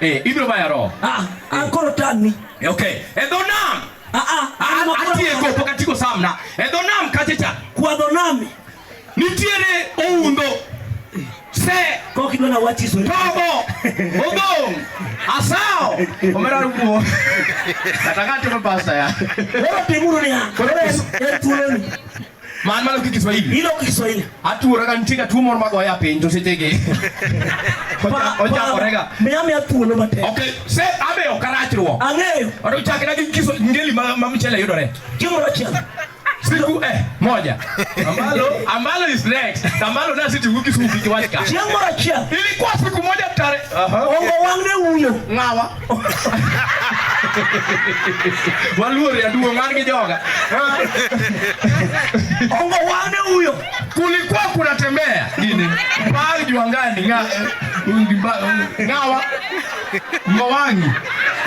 Eh, ibiro maya roho. Ah, ah eh. koro tani. Eh, okay. E dho nam. Ah ah. ah, ah Atieko pok atieko samna. E dho nam kacha cha. Kwa dho nam. Nitiere oundo. Se. Kok idwa na wachi sori. Tobo. Odong. Asao. Omera rumo. Kata ng'ato pastor ya. Koro timuru ni ha. Koro en thuoloni. Man malo ki Kiswahili. Ilo ki Kiswahili. Atuora kan tika tuo moro magoya piny to sechege. Ochakore ga. Miya miya thuolo matek. Okay, se abe ok arachruok. Ang'eyo. Oto chakre gi kiso ngeli ma ma mchele yudore. Chiemo achiel. Siku eh moja. Ambalo ambalo is next. Ambalo na siti wiki siku kiwachka. Chiemo achiel. Ilikuwa siku moja tare. Aha. Ongo wangne uyo. Ngawa. Waluor ya duo man gi joga. Ongo wane huyo. Kulikuwa kunatembea nini? Bali juangani nga ngawa ngowangi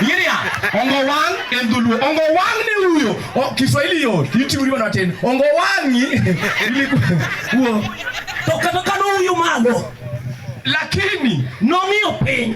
yiria ongowang en dholuo ongowang ni huyo kiswahili yo itiuriwa na tena ongowangi ili huo to kata kano huyo malo lakini nong'iyo piny